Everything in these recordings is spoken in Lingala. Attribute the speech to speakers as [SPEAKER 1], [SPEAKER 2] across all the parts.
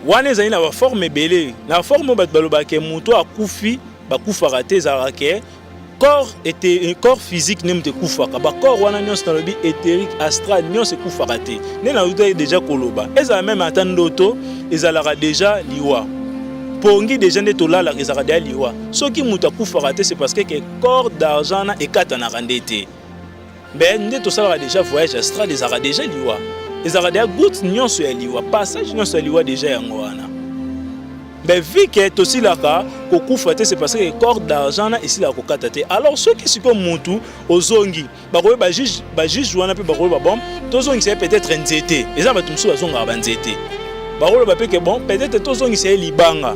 [SPEAKER 1] wana ezali na baforme ebele na forme oyo bato balobaka ke moto akufi bakufaka te ezalaka ke corps ete corps physique nde moto ekufaka bacorps wana nyonso nalobi éthérique astral nyonso ekufaka te nde nautaki deja koloba ezala meme ata ndoto ezalaka deja liwa pongi deja nde tolalaka ezalaka deja liwa soki moto akufaka te c'est parce que corps d'argent na ekatanaka nde te Mais nde tosalaka deja voyage astral ezalaka deja liwa ezalaka deja gout nyonso ya liwa passage nyonso ya liwa deja yango wana mais vu que tosilaka kokufa te c'est parce que corps d'argent na esilaka kokata te alors soki sikoyo mutu ozongi bakoki bajuge bajuge wana mpe bakoki babom tozongisa ye peut-être nzete eza bato mosusu bazongaka banzete bakoloba mpe ke bon peut-être tozongisa ye libanga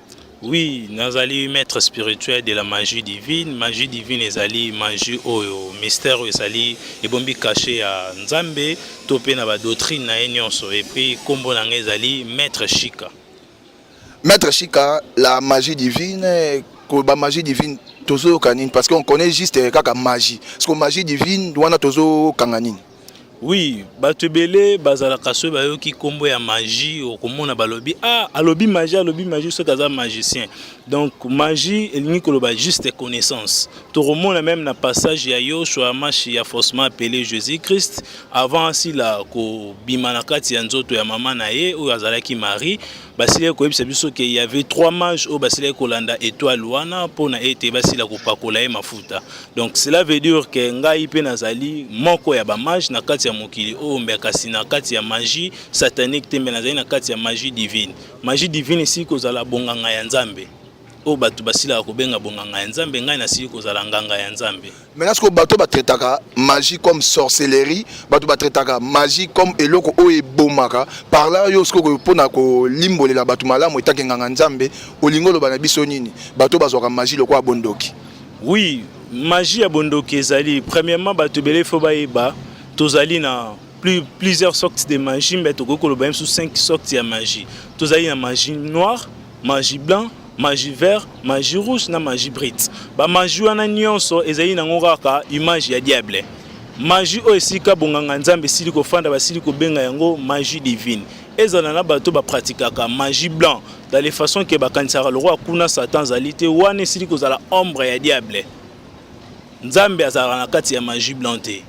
[SPEAKER 2] Oui,
[SPEAKER 1] nazali maître spirituel de la magie divine. Magie divine ezali magie oyo mystère oyo ezali ebombi cachet ya Nzambe to pe na ba doctrine na ye nyonso et puis kombo na ngai ezali maître Shika. Maître
[SPEAKER 2] Shika, la magie divine, ko ba magie divine tozo yoka nini parce qu'on connaît juste kaka magie. Parce que magie divine wana tozo kanga nini? Oui,
[SPEAKER 1] bato ebele bazalaka soki bayoki nkombo ya magie okomona balobi ah alobi magie alobi magie soki aza magicien donc magie elingi koloba juste connaissance tokomona meme na passage ya yoshua mashi ya faussement appelé jésus christ avant asila kobima na kati ya nzoto ya mama na ye oyo azalaki marie basilaki koyebisa biso ke y avait trois mages oyo basilaki kolanda étoile wana mpo na ete basila kopakola ye mafuta donc cela veut dire ke ngai mpe nazali moko ya bamage na kati ya mokili oyo mbe kasi na kati ya magie satanique te mbe nazali na kati ya magie divine magie divine esili kozala bonganga ya nzambe oyo bato basilaka kobenga bonganga ya nzambe ngai nasili kozala nganga ya nzambe maintenant sikoyo bato
[SPEAKER 2] batraitaka magie comme sorcellerie bato batraitaka magie comme eloko oyo ebomaka parla yo sikoyo mpona kolimbolela bato malamu etake nganga nzambe olingi oloba na biso nini bato bazwaka magie lokola bondoki oui
[SPEAKER 1] magie ya bondoki ezali premièrement bato ebele fo bayeba tozali na plus, plusieurs sortes de magie mbe tokoki koloba ye mosusu 5 sortes ya magie tozali na magie noire Magie blanc, magie vert, magie rouge na magie brite. Ba magie wana nyonso ezali nango kaka image ya diable. Magie oyo esika bonganga nzambe esili kofanda basili kobenga yango magie divine. Ezala na bato ba pratikaka magie blanc dans les façons que bakanisaka lokola kuna satan azali te wana esili kozala ombre ya diable. Nzambe azalaka na kati ya magie blanc te.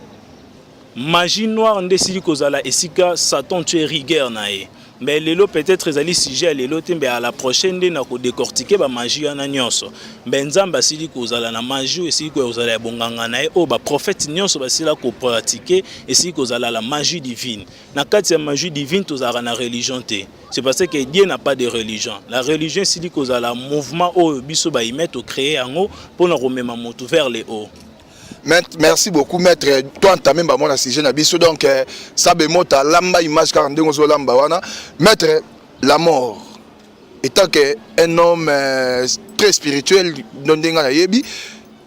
[SPEAKER 1] Magie noire nde esili kozala esika Satan tue rigueur na ye. Mais lelo peut-être ezali sujet ya lelo te, mais à la prochaine nde na ko décortiquer ba magie wana nyonso. Mais Nzambe asili kozala na magie esili kozala ya bonganga na ye oyo ba prophètes nyonso basila ko pratiquer esili kozala la magie divine. Na kati ya magie divine tozalaka na religion te. C'est parce que Dieu n'a pas de religion. La religion esili kozala mouvement oyo biso ba humains to créer yango pona komema moto vers le haut. merci
[SPEAKER 2] beaucoup maître to entame bango na sujet na biso donc euh, sabe mota lamba image kaka ndenge ozolamba wana maître la mort étant que un homme euh, très spirituel no ndenge nayebi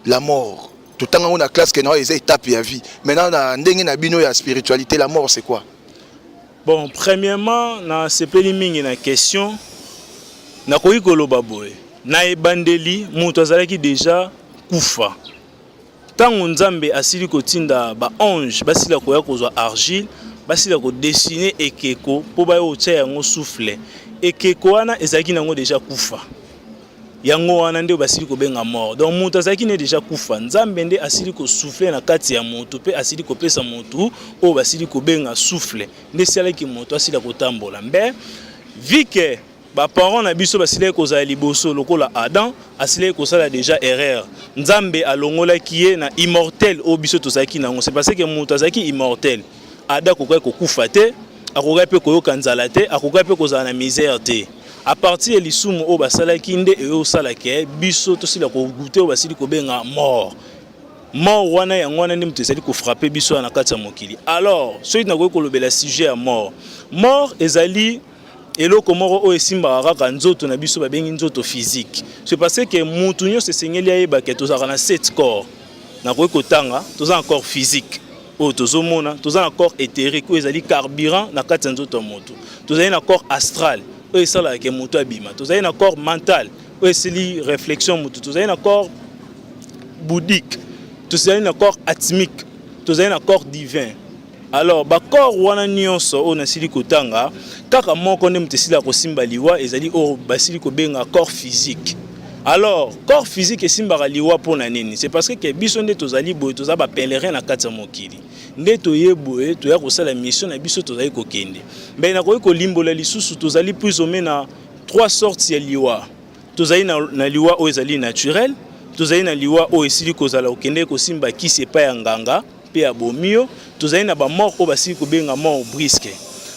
[SPEAKER 2] la mort totanga yango na classe ke nao eza étape ya vie maintenant na ndenge na bino ya spiritualité la mort c'est quoi Bon,
[SPEAKER 1] premièrement, na sepeli mingi na question. Na koyi koloba boye. Na ebandeli, mutu azalaki deja kufa. Tango Nzambe asili kotinda ba ange, basila koya kozwa argile, basila ko dessiner ekeko po bayo otia yango souffle. Ekeko wana ezalaki nango deja kufa. yango wana nde basili kobenga mort donc moto azalaki ne deja kufa nzambe nde asili kosouffle na kati ya moto mpe asili kopesa moto oyo basili kobenga souffle nde esalaki moto asila kotambola mbe vike baparent na biso basilaki kozala liboso lokola adam asilaki kosala deja erreur nzambe alongolaki ye na immortel oyo biso tozalaki nango se parce ke moto azalaki immortel Ada akokaki kokufa te, akokaki mpe koyoka nzala te, akokaki mpe kozala na misère te. A partir ya lisumu oyo basalaki nde eyosala ke biso tosila kogute oyo basili kobenga mort. Mort wana yango wana nde moto ezali kofrape biso na kati ya mokili. Alors soki nakoki kolobela sujet ya mort, mort ezali eloko moko oyo esimbaka kaka nzoto na biso babengi nzoto physique. C'est parce que mutu nyonso esengeli ayebake tozalaka na sept corps. Nakoki kotanga toza na corps physique oyo tozomona toza na corps éthérique oyo ezali carburant na kati ya nzoto ya moto tozali na corps astral oyo esalaka ke moto abima tozali na corps mental oyo esili réflexion moto tozali na corps boudique tozali na corps atmique tozali na corps divin alors bacorps wana nyonso oyo nasili kotanga kaka moko nde moto esili ya kosimba liwa ezali oyo basili kobenga corps physique Alors, corps physique esimbaka liwa mpo na nini? C'est parce que biso nde tozali boye, toza ba pèlerins na kati ya mokili. Nde toye boye, toya kosala mission na biso tozali kokende. Mais nakoki kolimbola lisusu tozali plus ou moins na trois sortes ya liwa. Tozali na, na liwa oyo ezali naturel, tozali na liwa oyo esili kozala okende kosimba kisi epai ya nganga mpe ya bomiyo, tozali na ba mort oyo basili kobenga mort brisque.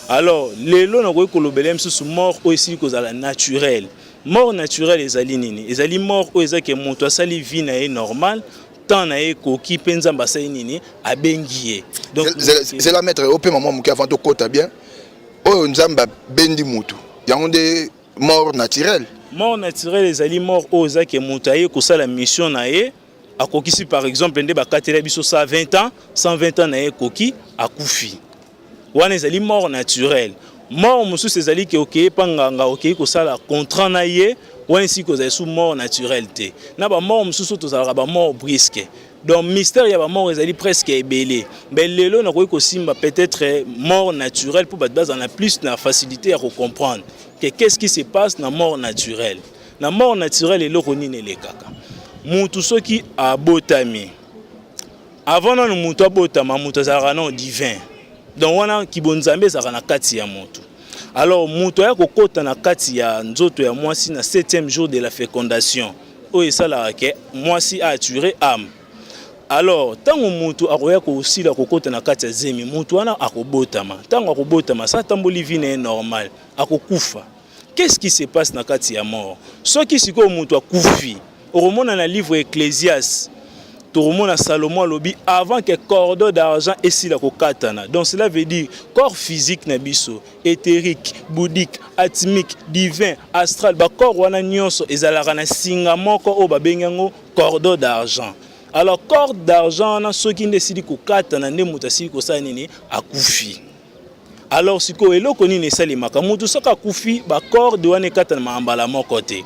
[SPEAKER 1] Alors, lelo nakoki kolobela misusu mort oyo esili kozala naturel. Mort naturelle ezali nini? Ezali mort oyo eza ke moto asali vie na ye normal temps na ye ekoki mpe nzambe asali nini abengi ye zela maître
[SPEAKER 2] opema mwa moke avant tokota bien oyo nzambe abendi motu yango nde mort naturelle mort naturelle
[SPEAKER 1] ezali mort oyo eza ke moto aye kosala mission na ye akokisi par exemple nde bakatela biso 120 ans 120 ans na ye ekoki akufi wana ezali mort naturel mort mosusu ezali ke okei mpa nganga okei kosala contrat na ye wana esiki kozala su mort naturel te na bamort mosusu tozalaka bamort briske donc mystère ya bamort ezali presque ebele mais lelo nakoki kosimba peut-être mort naturel mpo bato bazala na plus na facilité ya kocomprendre ke qu'est-ce qui se passe na mort naturel na mort naturel eloko nini elekaka mutu soki abotami Avant nanu mutu abotama mutu azalaka nanu divin. Donc wana kibonzambe ezalaka na kati ya mutu. Alors mutu aya kokota na kati ya nzoto ya mwasi na 7e jour de la fécondation oyo esalaka ke mwasi a attirer âme. Alors ntango mutu akoya kosila kokota na kati ya zemi mutu wana akobotama. Ntango akobotama sa atamboli vie na ye normal akokufa. Qu'est-ce qui se passe na kati ya mort? Soki sikoyo moto akufi, okomona na livre Ecclesiastes tokomona Salomon alobi avant que cordon d'argent esila kokatana. Donc cela veut dire corps physique na biso, éthérique, bouddhique, atmique, divin, astral, ba corps wana nyonso ezalaka na singa moko oyo babengi yango cordon d'argent. Alors corde d'argent wana soki nde esili kokatana nde moto asili kosala nini? Akufi. Alors sikoyo eloko nini esalemaka mutu soki akufi ba corde wana ekatana mbala moko te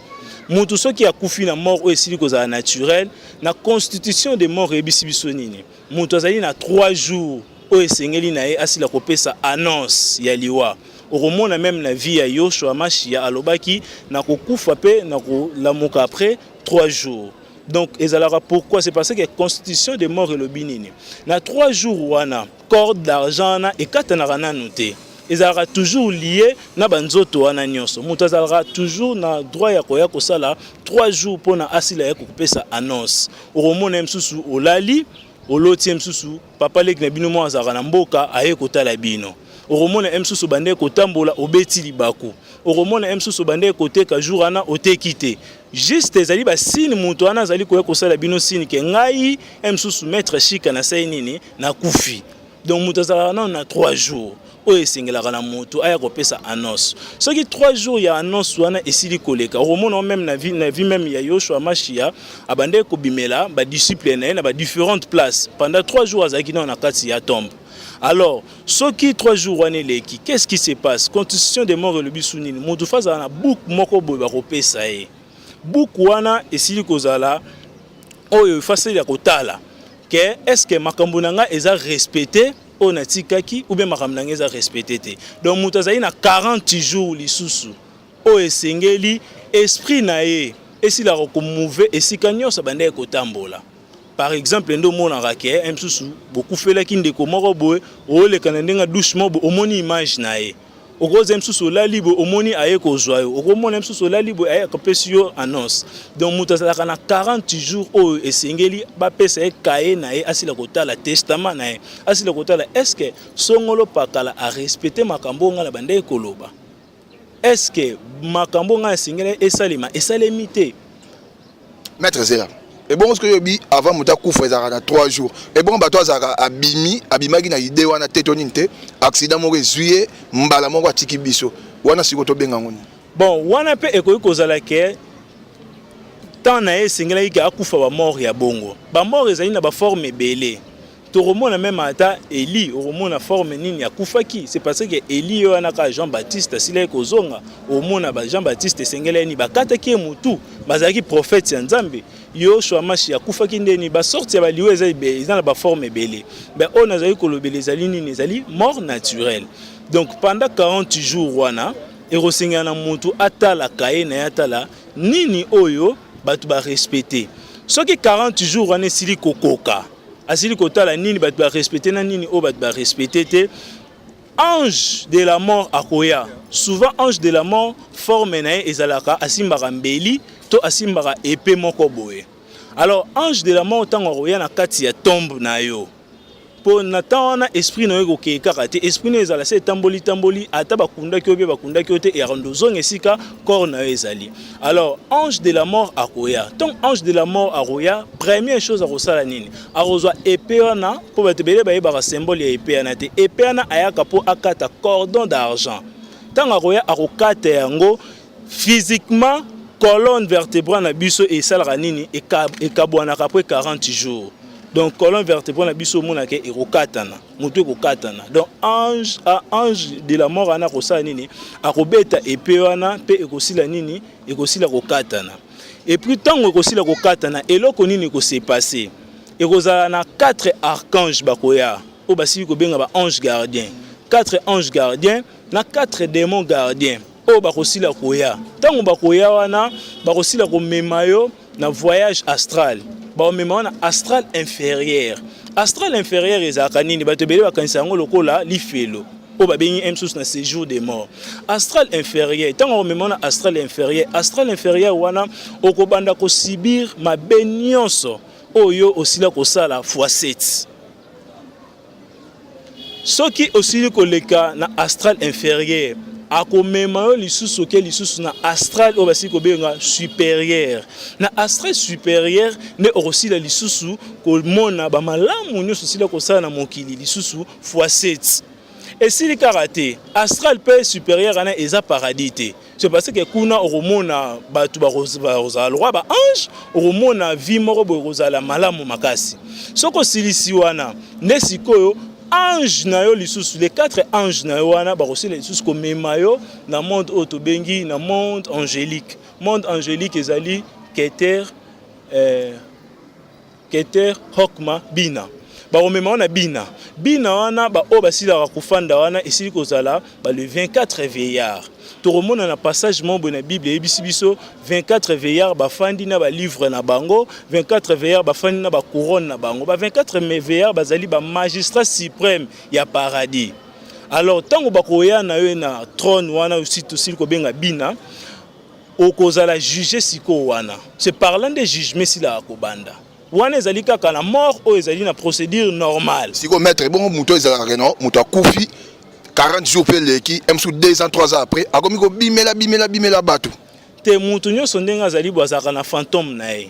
[SPEAKER 1] mutu soki akufi na mort oyo esili kozala naturel na constitution de mort eyebisi biso nini mutu azali na 3 jours oyo esengeli na ye asila kopesa annonce ya liwa okomona meme na vie ya yoshua mashiya alobaki na kokufa mpe na kolamuka après 3 jours donc ezalaka pourquoi c'est parce que constitution de mort elobi nini na 3 jours wana corde d'argent wana ekatanaka nanu te ezalaka toujours lié na banzoto wana nyonso moto azalaka toujours na droit ya koya kosala 3 jours mpo na asila ya kokopesa annonce okomona ye mosusu olali oloti ye mosusu papa leki na bino moko azalaka na mboka aye kotala bino okomona ye mosusu obandaki kotambola obeti libaku okomona ye mosusu obandaki koteka jour wana oteki te juste ezali basine moto wana azali koya kosala bino sine ke ngai ye mosusu maître shika nasali nini na kufi donc moto azalaka nano na 3 jours oyo esengelaka na moto aya kopesa annonce soki 3 jours ya annonce wana esili koleka okomona meme na vie, na vie meme ya yoshua mashia abandaki kobimela badisciple na ye na badifférentes places pendant 3 jours azalaki nao na kati ya tombe alors soki 3 jours wana eleki qu'est ce qui se passe constitution de mort elobi su nini moto fa azala na book moko boye bakopesa ye Buku wana esili kozala oyo efaseli ya kotala ke eske makambo na ngai eza respecte oyo natikaki ou bien makambo na ngai eza respecte te donc moto azali na 40 jours lisusu oyo esengeli esprit na ye esilaka komove esika nyonso abandaki kotambola par exemple nde omonaka ke eh, mosusu bokufelaki ndeko moko boye oleka na ndenge doucement boye omoni image na ye okozwa mosusu olali boye omoni aye kozwa yo okomona mosusu olali boye aye akopesi yo annonce donc moto azalaka na 40 jours oyo esengeli bapesa ye kaye na ye asila kotala testament na ye asila kotala est ce que songolo pakala arespecte makambo oyo ngai na bandeki koloba est ce que makambo ngai esengeli esalema esalemi te
[SPEAKER 2] maître zera ebongo soki oyebi avant moto akufa ezalaka na 3 jours ebongo bato azalaka abimi abimaki na idee wana te to nini te accident moko ezwi ye mbala moko atiki biso wana sikoyo tobenga yango nini bon wana mpe
[SPEAKER 1] ekoki kozala ke temps na ye esengelaki ke akufa bamort ya bongo bamort ezali na baforme ebele tokomona meme ata eli okomona forme nini akufaki c'est parce que eli yo wana kaka jean baptiste asilaki kozonga omona ba jean baptiste esengeli yani bakataki ye motu bazalaki prophète ya nzambe yoshua mashi akufaki ndeni basorte ya baliwa eza, eza na baforme ebele ben oyo nazali kolobela ezali nini ezali mort naturel donc pendant 40 jours wana ekosengela na motu atala kaye na ye atala nini oyo bato barespecte soki 40 jours wana esili kokoka asili kotala nini bato ba respecte na nini oyo bato ba respecte te ange de la mort akoya souvent ange de la mort forme na ye ezalaka asimbaka mbeli to asimbaka epe moko boye alors ange de la mort ntango akoya na kati ya tombe na yo mpo na ntan wana esprit na yo ekokee kaka te esprit na yo ezala se etamboli tamboli ata bakundaki yo mpe bakundaki yo te eyakondo ozonga esika corps na yo ezali alors ange de la mort akoya ntongo ange de la mort akoya première chose akosala nini akozwa epe wana mpo bato ebele bayebaka symbole ya epe wana te epe wana ayaka mpo akata cordon d'argent ntango akoya akokata yango physiquement colonne vertebral na biso esalaka nini ekabwanaka après 40 jours donc colonne vertebral na biso omonaka ekokatana moto ekokatana donc ange a ange de la mort wana akosala nini akobeta epe wana mpe ekosila nini ekosila kokatana epuis ntango ekosila kokatana eloko nini ekosepase ekozala na 4 archange bakoya oyo basili kobenga ba ange gardien 4 ange gardien na 4 demon gardien oyo bakosila koya ntango bakoya wana bakosila komema yo na voyage astral baomema wana astral inférieur astral inférieur ezalaka nini bato ebele bakanisa yango lokola lifelo oyo babengi m susu na séjour de mort astral inférieur ntango akomema wana astral inférieur astral inférieur wana okobanda kosibir mabe nyonso oyo osila kosala fois 7 Soki osili koleka na astral inferieur, akomema yo lisusu oke lisusu na astral oyo basili kobenga superieur. Na astral superieur nde okosila lisusu komona bamalamu nyonso osila kosala na mokili lisusu fois 7 esili kaka te astral mpe superieur wana eza paradis te c'est parce que kuna okomona bato bakozala lokwa ba ange okomona vie moko boye kozala malamu makasi soki osilisi wana nde sikoyo ange na yo lisusu les quatre anges na yo wana bakosila lisusu komema yo na monde oyo tobengi na monde angélique monde angélique ezali keter euh, Keter Hokma Bina bakomema wana bina bina wana baoyo basilaka kofanda wana esili kozala ba le 24 veillard tokomona na passage moko boye na bible eyebisi biso 24 veillard bafandi na balivre na bango 24 veillard bafandi na bacouronne na bango ba 24 veillard bazali bamagistrat suprême ya paradis alors ntango bakoya na yo na trône wana osili kobenga bina Okozala juge sikoyo wana se parlant de jugement esila akobanda wana ezali kaka na mort oyo ezali na procédure normale. Sikoyo maître ebongo moto
[SPEAKER 2] ezalaka keno moto akufi 40 jours mpe eleki msu 2 ans 3 ans après akomi kobimela bimela bimela
[SPEAKER 1] bato te
[SPEAKER 2] moto
[SPEAKER 1] nyonso ndenge azali bwazalaka na fantome na
[SPEAKER 2] ye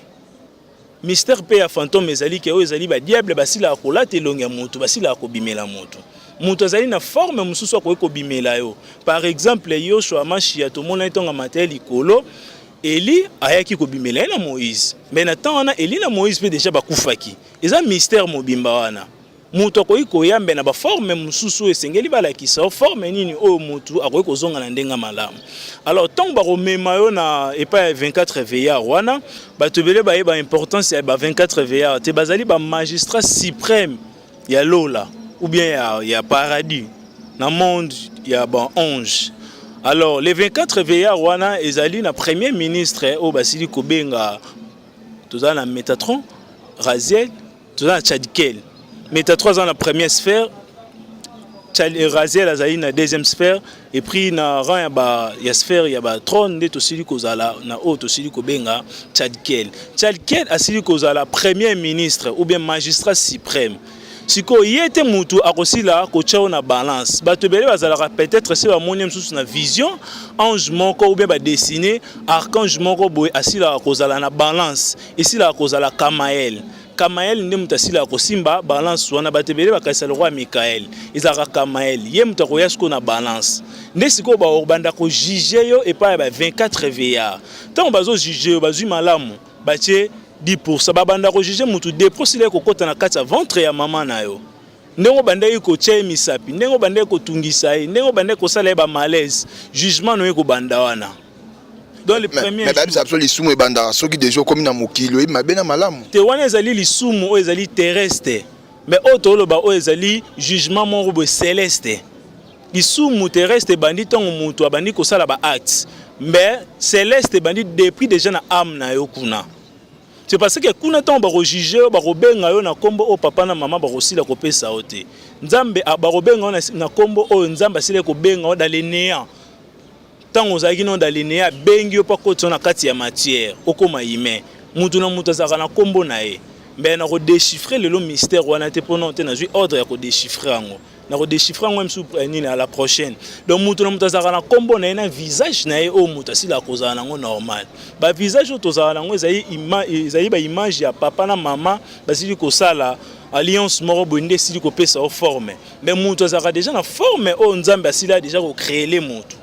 [SPEAKER 1] Mister pe ya fantome ezali ke oyo ezali ba diable basilaka kolata elongi ya moto, basilaka kobimela moto. Moto azali na forme mosusu akoki kobimela yo. Par exemple, Yoshua Mashiya tomonaki ntango amataki likolo, Eli ayaki kobimela ye na Moïse. Mais na temps wana Eli na Moïse pe deja bakufaki. Eza mystère mobimba wana. Moto akoki koyambe na baforme mosusu oyo esengeli balakisa forme nini oyo moto akoki kozonga na ndenge malamu. Alors ntango bakomema yo na epai ya 24 veillard wana, bato ebele bayeba importance ya ba 24 veillard te, bazali ba magistrat supreme ya lola ou bien ya, ya paradis na monde ya ba ange alors les 24 veillard wana ezali na premier ministre oyo basili kobenga toza na metatron raziel toza na chadikel meta 3 ans na première sphère euh, raziel azali na deuxième sphère et puis na rang ya, ba, ya sphère ya batrone nde tosili kozala na oyo tosili kobenga chadikel chadikel asili kozala premier ministre ou bien magistrat suprême sikoyo ye te motu akosila kotya yo na balance bato ebele bazalaka peut-être se bamoni ye mosusu na vision ange moko ou bien badessine archange moko boye asilaka kozala na balance Esilaka kozala Kamael. Kamael nde moto asilaka kosimba balance wana bato ebele bakanisa lokola Mikael. Ezalaka Kamael. Ye moto akoya sikoyo na balance. Nde sikoyo bakobanda kojuge yo epai ya ba 24 veillard. Ntango bazojuge yo bazwi malamu batye 10%. Babanda kojuge moto 2 mpo sila ekokota na kati ya ventre ya mama na yo. ndenge obandaki kotya ye misapi ndenge obandaki kotungisa ye ndenge obandaki kosala ye bamalaise jugement no ye kobanda wana biso lisumu
[SPEAKER 2] ebandaka soki deja okomi na mokili oyebi mabe na malamu te wana ezali lisumu
[SPEAKER 1] oyo ezali terrestre me oyo toloba oyo ezali jugement moko boye celeste lisumu terrestre ebandi ntango moto abandi kosala baacte me celeste ebandi depuis deja na ame na yo kuna C'est parce que kuna ntango bakojuge yo bakobenga yo na nkombo oyo papa na mama bakosila kopesa yo te nzambe ah, bakobenga yo na nkombo oyo nzambe asili kobenga yo dalenea ntango ozalaki no dalenea abengi yo mpo akoti yo na kati ya matière okoma ime moto na moto azalaka na nkombo na ye me nakodechiffre lelo mystère wana te mpo nao te nazwi ordre ya kodechiffre yango na ko déchiffrer yango msu eh, nini à la prochaine donc moto na moto azalaka na nkombo na ye na visage na ye oyo moto asila akozala nango normal ba visage oyo tozala nango ezali ezali baimage ya papa na mama basili kosala alliance moko boye nde esili kopesa yo forme mais moto azalaka déjà na forme oyo nzambe asila déjà kocreele moto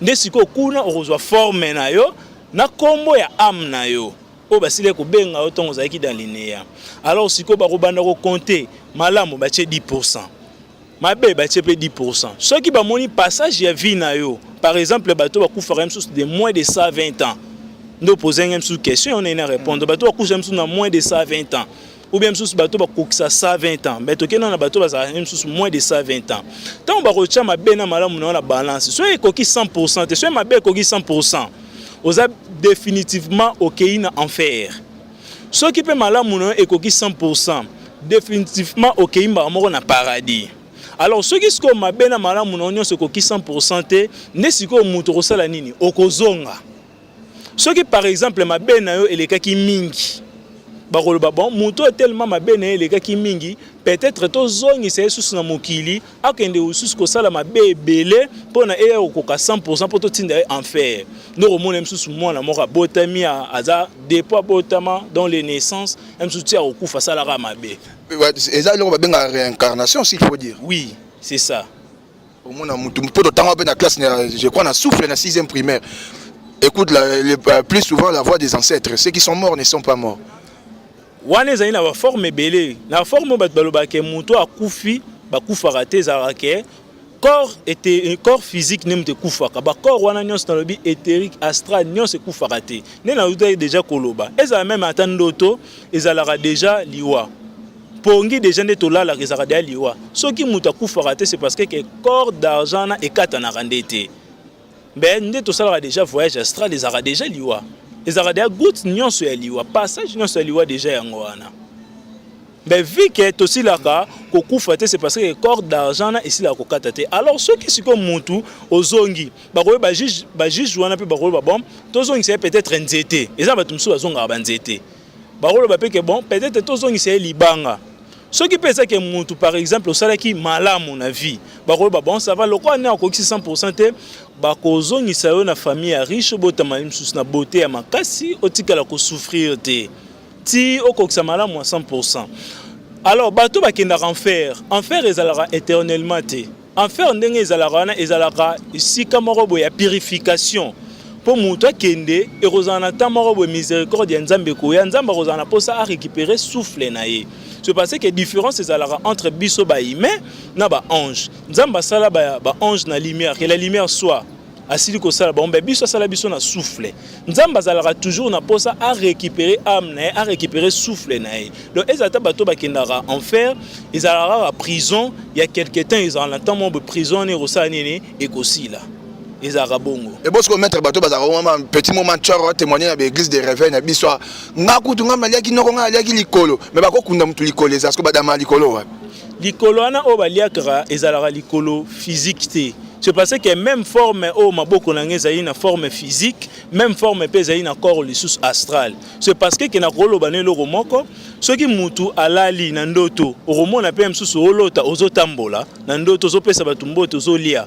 [SPEAKER 1] nde sikoyo kuna okozwa forme na yo na nkombo ya ame na yo oyo basilaki kobenga yo ntango ozalaki dans lineya alors sikoyo bakobanda kokonte malamu batie 10 pourcent mabe batie mpe 10 pourcent soki bamoni passage ya vie na yo par exemple bato bakufaka mosusu de moins de 120 ans nde opozangi mosusu question yango naina répondre bato bakufaka mosusu na moins de 120 ans ou bien mosusu bato bakokisa 120 ans mais tokenda na bato bazalaka nde mosusu moins de 120 ans ntango bakotya mabe na malamu na yo na balance soki ekoki 100 pourcent te soki mabe ekoki 100 pourcent oza définitivement okei na enfer soki mpe malamu na yo ekoki 100 pourcent définitivement okei mbala moko na paradis alors soki sikoyo mabe na malamu na yo nyonso ekoki 100 pourcent te nde sikoyo moto okosala nini okozonga soki par exemple mabe na yo elekaki mingi bakoloba bon moto oyo telema mabe na ye elekaki mingi peut-être tozongisa ye susu na mokili akende lisusu kosala mabe ebele mpo na eya kokoka 100 mpo totinda ye enfer donc omona ye mosusu mwana moko abotami aza depo abotama dans les naissances ye mosusu ti akokufa asalaka mabe eza eloko
[SPEAKER 2] babengaka réincarnation s'il faut dire oui c'est ça
[SPEAKER 1] omona
[SPEAKER 2] mutu mpo totanga mpe na classe je crois na souffle na 6e primaire écoute la, le, euh, plus souvent la voix des ancêtres ceux qui sont morts ne sont pas morts wana
[SPEAKER 1] ezali na baforme ebele na forme oyo bato balobaka moto akufi bakufaka te ezalaka ke corps ete corps physique nde moto ekufaka bacorps wana nyonso nalobi éthérique astral nyonso ekufaka te nde nautaki deja koloba ezala meme ata ndoto ezalaka deja liwa pongi deja nde tolalaka ezalaka deya liwa soki moto akufaka te c'est parce que ke corps d'argent na ekatanaka nde te mbe nde tosalaka deja voyage astral ezalaka deja liwa ezalaka deya goute nyonso ya liwa passage nyonso ya liwa deja yango wana mbe vu ke tosilaka kokufa te c'est parce que corps d'argent na esilaka kokata te alors soki sikoyo motu ozongi bakoyo bajuge wana mpe bakoyo babom tozongisa ye peut-être nzete eza bato mosusu bazongaka banzete bakoloba mpe ke bon peut-être tozongisa ye libanga soki mpe ezaki mutu par exemple osalaki malamu na vie bakoloba bon ça va lokola nde akokisi 100% te bakozongisa yo na famille ya riche obotama mosusu na bote ya makasi otikala kosouffrir te ti okokisa malamu ya 100% alors bato bakendaka enfer enfer ezalaka éternellement te Enfer ndenge ezalaka wana ezalaka esika moko boye ya purification mpo moto akende ekozala na temps moko boye misericorde ya nzambe ekoya nzambe akozala na mposa arécupere souffle na ye ce parce que différence ezalaka entre biso bahumain na baange nzambe asala baange ba na lumière que la lumière soit asili kosala bango mpe biso asala biso na souffle nzambe azalaka toujours na mposa a récupérer âme na ye a récupérer souffle na ye donc ezala ata bato bakendaka enfer ezalaka kaka prison ya quelque temps ezala na ntango moko prison wana ekosala nini ekosila ezalaka bongo ebosi komettre bato
[SPEAKER 2] bazalaka wana petit moment ncor atémoigne na baeglise de réveil na biso nga kutu nga naliaki noko nga naliaki likolo me bakokunda motu likolo eza siko badama likolo wapi Likolo wana
[SPEAKER 1] oyo baliaka ezalaka likolo physique te. C'est parce que même forme oyo maboko na ngai ezali na forme physique, même forme mpe ezali na corps lisusu astral. C'est parce que kena koloba na eloko moko, soki mutu alali na ndoto, okomona mpe mosusu olota ozotambola na ndoto, ozopesa bato mbote, ozolia.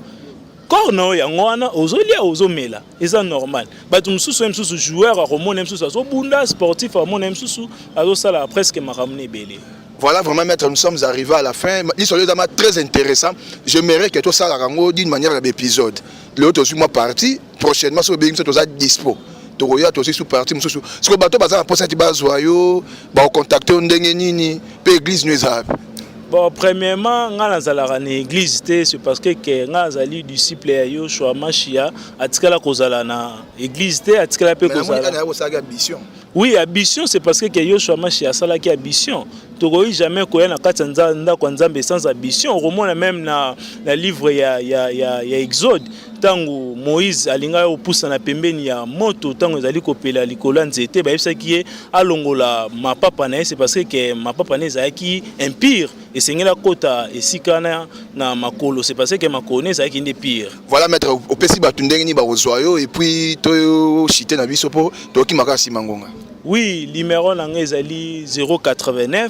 [SPEAKER 1] corps na yo yango wana ozolia ozomela eza normal bato mosusu ye mosusu joueur akomona ye mosusu azobunda sportif akomona ye mosusu azosala presque makambo na ebele Voilà vraiment maître,
[SPEAKER 2] nous sommes arrivés à la fin. L'histoire est très intéressant. Je mérite que tout ça d'une manière d'épisode. L'autre suis moi parti. Prochainement, sur Bing, tout ça dispo. tokoya tosi su parti mosusu sikoyo bato baza na mposa ti bazwa yo bakokontakte yo ndenge nini mpe eglize nio eza wapi Bon, premièrement,
[SPEAKER 1] nga nazalaka na église te, c'est parce que que nga nazali disciple ya Yoshua Mashia, atikala kozala na église te, atikala pe kozala. Oui,
[SPEAKER 2] ambition,
[SPEAKER 1] c'est parce que que Yoshua Mashia asalaki ambition. Tokoki jamais koya na kati ya ndako ya Nzambe sans ambition. Okomona même na na livre ya ya ya, ya Exode ntango moïse alingaki kopusana pembeni ya moto ntango ezali kopela likolo ya nzete bayebisaki ye alongola mapapa na ye se parce que mapapa na ezalaki impire esengeli akota esika wana na makolo se parce que makolo na ezalaki nde pire voilà maître opesi
[SPEAKER 2] bato ndenge nini bakozwa yo epuis toshite na biso mpo tokimaka nsima ngonga oui limero
[SPEAKER 1] na ngai ezali 089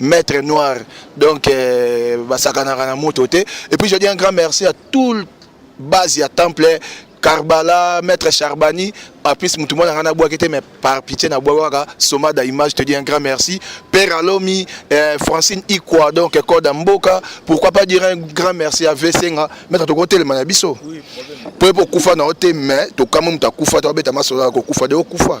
[SPEAKER 2] Maître Noir, donc euh, basakanaka na moto te. Et puis je dis un grand merci à tout le base ya temple Karbala, Maître Charbani, en plus mutu mwana ngana bwa kete mais par pitié na bwa waka soma da image te dis un grand merci. Père Alomi, euh, Francine Ikwa donc code Mboka, pourquoi pas dire un grand merci à Vesenga, Maître to kote le manabiso. Oui, problème. Pour kufa na ote mais to kama muta kufa to beta masola ko kufa de kufa.